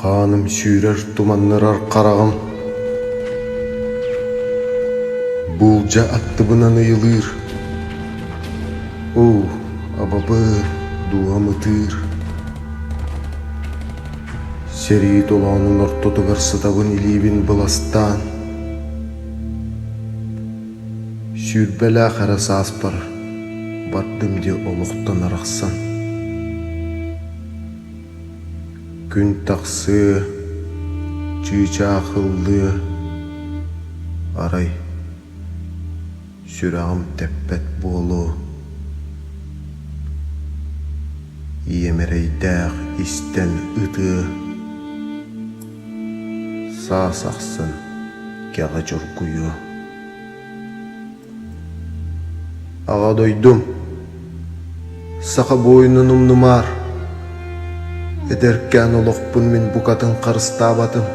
Хааным сүүрэр туманнарар хараҕым буулдьа аттыбынан ыйылыыр. Оо, абабыыр, дууһам ытыыр. Сэрии толоонун ортотугар сытабын илиибин быластаан Сүүрбэлээх эрэ сааспар бардым дии олохтон арахсан Күн тахсыы, чыычаахыллыы Арай сүрэҕим тэппэт буолуо Ийэм эрэйдээх истэн ытыы Саас ахсын кэҕэ чоргуйуо. Аҕа дойдум, саха буойунун умнумаар. Эдэркээн олохпун мин букатын харыстаабатым,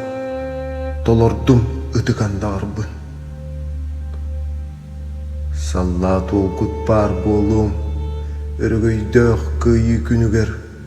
толордум ытык андаҕарбын. Саллаат уолгут баар буолуом, өрөгөйдөөх кыайыы күнүгэр